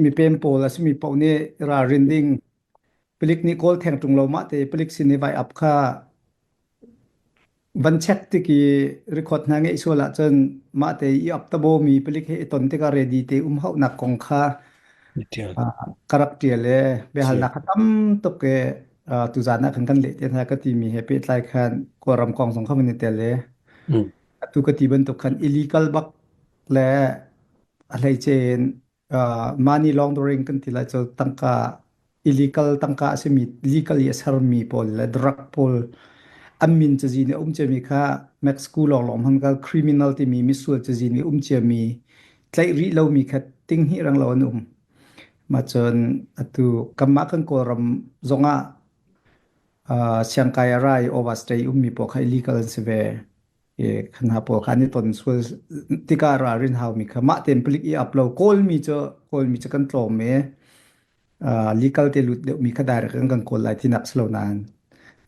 Mipem pawl a simi paoh nih ralrin ding. Palik nih kawl theng ṭung lo mah te palik sin i vai ap kha van check tik i record hna ngeih sual ahcun mah te i ap tabo mi palik he i ton tikah ready te um hauhnak kong kha Tial. ka rak ṭial e biahalnak kha tam tuk e tuzaan ah khan kan leh te hna ka ti mi he pehtlai khan kawlram kong zong kha kan i tel e atu ka ti bantuk khan illegal bak le a hleice in mani laundering kan ti lai cu tangka illegal tangka a simi legally a sermi pawl le drug pawl an min cazin i um ciami kha Mexico lawnglawng hman kal criminal timi misual cazin i um ciami tlaih rih lomi kha tinghnih rang lo an um ma cun atu kanmah kan kawlram zongah uh, siangkai a rai overstay ummi pawl kha illegal an si ve Ye khan ha pawl khan i ton sual tika ralrin haumi kha mah ten palik i upload kawlmi cu kawlmi cu kan tlawm e uh, legal te lut deuh mi kha direct kan kan kawl lai tinak slo nan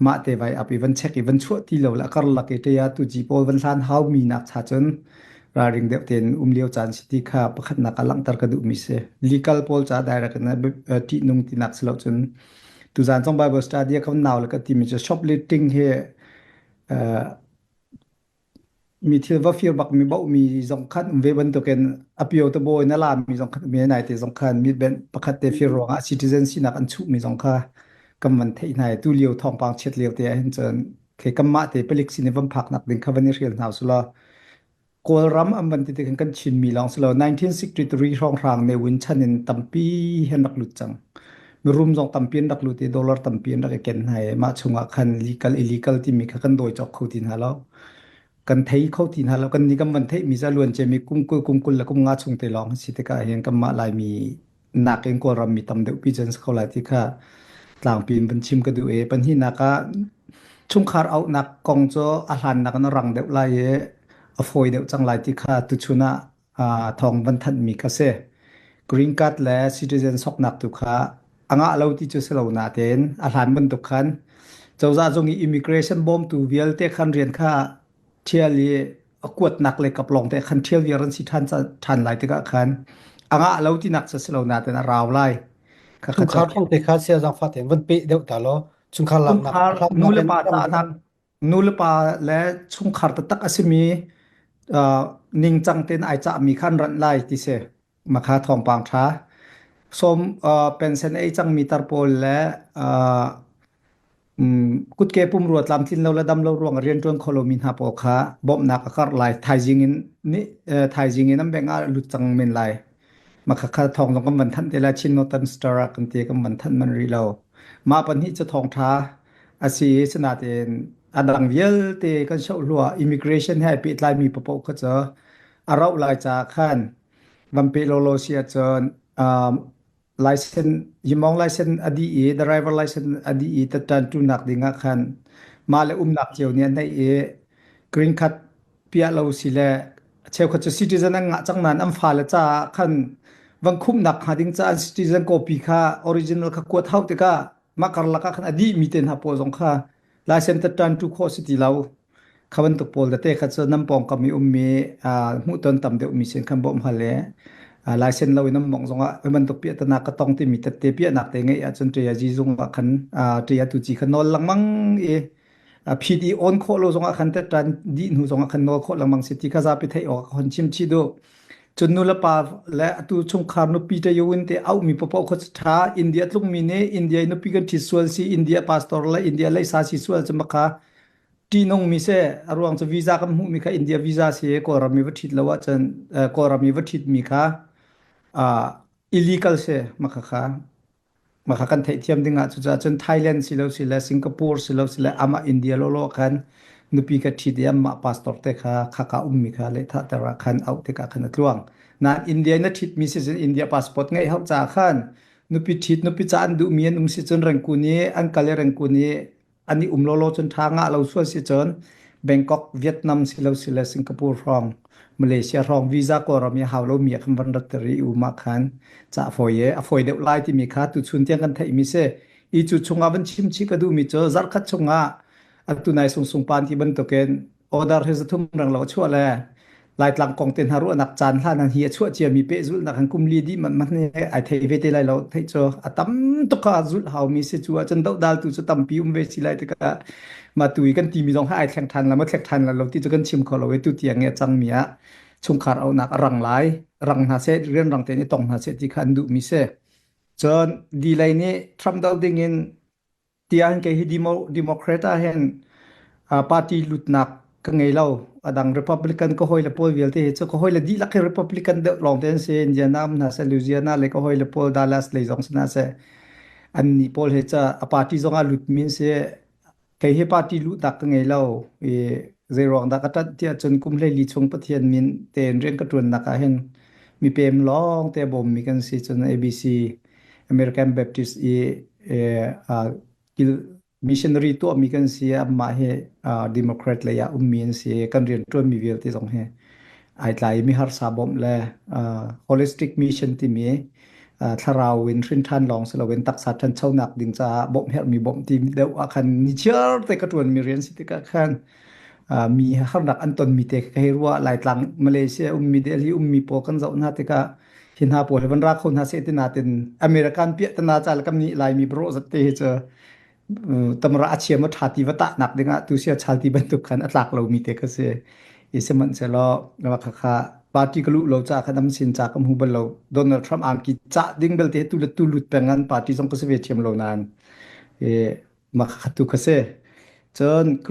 mah te vai up even check even chuah ti lo la kar lak te ya tu ji pawl van hlan hau mi nak cha chun raring deuh ten um liu chan si ti kha pakhat nak alang tar ka du mi se legal pawl cha direct na ti nung tinak slo chun tu zan song bible study ka naw la ka ti mi shopletting he Mi thil va fir bak mi bohmi zong khan um ve bantukin apio te bawi na lami zong khan um ve nai te zong khan mi ben pakhat te fir ruangah citizen sinak an chuh mi zong kha kan van theih hna tu lio thawngpang chiat lio te ahhin cun khe kan mah te palik sin i van phak nak ding kha van i rel hna sula Kawlram an van ti tikhin kan Chinmi lawng si lo 1963 hrawnghrang ne win chan in tampi hen rak lut cang. Mirum zong tampi an rak lut i dollar tampi an rak i ken hna i mah chungah khan legal illegal timi kha kan dawi cawk kho ti hna lo. Kan thei kho ti hna lo kan ni kan van theihmi za luancemi kumkul kumkul le kum nga chung te lawng si tikah hin kan mah laimi nakin Kawlram mi tam deuh pi cun ko lai ti kha tlangpi in van chim ka duh i panhnihnak ah chungkhar auhnak kong cu a hlannak in a rang deuh lai i a fawi deuh cang lai ti kha tuchun ah thawng van thanhmi ka si. Green card le citizen soknak tu kha a ngah lo ti cu si lo natein a hlan bantuk khan cozah zung i immigration bawmtu vialte khan rian kha ṭhial i a kuatnak le kap lawng te khan ṭhial viar an si ṭhan ṭhan lai tikah khan a ngah lo tinak cu a si lo natein a rau lai. Chungkhar thawng te kha siazang fate van peh deuh ta law chungkhar laknak nulepa tahnak nulepa le chungkhar taktak a simi ningcang tein ai cahmi kha an ranh lai ti si. Makha thawngpang ṭha. Som uh, pension ei cangmi tar pawl le uh, um, kutke pumrua tlamtlin lo le dam lo ruang rian ṭuan kho lomi hna pawl kha bawmhnak a karh lai. Thaizing in nih uh, thaizing in an beng ah lut cang men lai. Makha kha thawng zong kan van thanh te la Chin Northern Star ah kan te kan van thanh man rih lo. Ma pan hi cu thawng ṭha a si sinatin a dang vialte kan shoh hlua immigration he pehtlai mi papo kha cu a rauh lai caah khan van pe lawlaw si ahcun license yimong license a dih i driver license a dih i tattantunak ding ah khan mah le umnak cio nih a neih i green card piah lo si le cheukhat cu citizen an ngah cang nain an fale caah khan van khumhnak hnga ding caah an citizen copy kha original kha kuat hau tikah mah karlak ah khan a dih mi te hna pawl zong kha Laisen tattan tu kho si ti lo. Kha bantuk pawl da te kha cu nam pong kam i ummi hmuh ton tam deuh mi sin kan bawm hal e. Laisen lo in nam mong zong ah bantuk piah tanak ka tong timi tatte piah nak te ngai ahcun tia ji zung ah khan tia tu ji khan nol langmang i phi di on kho lo zong ah khan tattan di hnu zong ah khan nol kho langmang si ti kha zapi thei awk hon chim chi du. Cun nulepa le atu chungkhar nupi te yawin te auhmi paoh kha ṭha. India tlungmi nih India i nupi kan ṭhit sual si, India pastor le India leisa si sual cu makha ṭihnungmi si. A ruang cu visa kan hmuhmi kha India visa si i Kawlram i va ṭhit lo ahcun Kawlram i va ṭhitmi kha illegal si makhakha. Maka kan theihthiam dingah cucaah cun Thailand silo sile Singapore silo sile amah India lawlaw khan nupi ka ṭhit i amah pastor te kha khaka ummi kha lehthahter ah khan auh tikah khan a tluang. Nain India in a ṭhitmi si cun India passport ngeih hau caah khan nupi ṭhit nupi ca an duhmi an um si cun rengkun i an kal i rengkun i an i um lawlaw cun ṭha ngah lo sual si cun Bangkok, Vietnam si lo si le Singapore hrawng Malaysia hrawng visa Kawlram i hau lomi ah khan van rat ter i um ah khan ca fawi e a fawi deuh lai timi kha tuchun tiang kan theihmi si i cu chungah van chim chih ka duhmi cu zarh khat chungah a tunai sungsung pan ti bantukin order hi zathum rang lo a chuah le laitlang kong te hna ruahnak caan hlan an hi a chuah cia mi pehzul nak an kumli di man man he ai thei ve te lai lo thei cho a tam tuk ha zul hau mi si chu a chan do dal tu chu tampi um ve si lai te ka ma tu kan ti mi zong ha ai thleng than la ma thlek than la lo ti chu kan chim kho lo e tu tiang e chang mi a chungkhar au nak rang lai rang hna se rian rang te ni tong hna se ti khan du mi se cun delay ni Trump ding in tiah kei hi Democrat ah hin party lutnak ka ngei lo. Adang Republican ka hoi le pawl vialte hi cu ka hoi le dihlak hi Republican deuh lawng te an si. Indiana um hna se, Louisiana le ka hoi le pawl Dallas lei zong si hna se, an nih pawl hi cu a party zong ah lut min si. Kei hi party lutnak ka ngei lo. I zeiruang dah ka tat tiah cun kum hlei li chung Pathian min te in rian ka tuannak ah hin mi pem lawng te bawmmi kan si. Cun ABC American Baptist i missionary tuahmi kan si amah hi Democrat lei ah ummi an si kan rian ṭuanmi vialte zong hi ai tlaimi harsa bawmh le holistic mission timi thlarau in hrinṭhan lawng si loin taksa ṭhanchonak ding caah bawmh herhmi bawmh ti deuh ah khan nichiar te ka ṭuanmi rian si tikah khan mi harnak an tonmi te ka hei ruah Laitlang Malaysia ummi Delhi ummi pawl kan zoh hna tikah hi hna pawl hi van ra kho hna se ti natin american piah tana ca kam ni laimi bro zat te hi cu tamra a chiam a tha ti va ta nak dingah tu sia chal ti bantuk khan a tlak lo mi te ka se i se man se lo kha kha party ka lu lo cha khan am sin cha kam hu bal lo donald trump ang ki cha ding bel te tu le tu lut pengan party song ka se ve thiam lo nan e ma kha tu ka se chon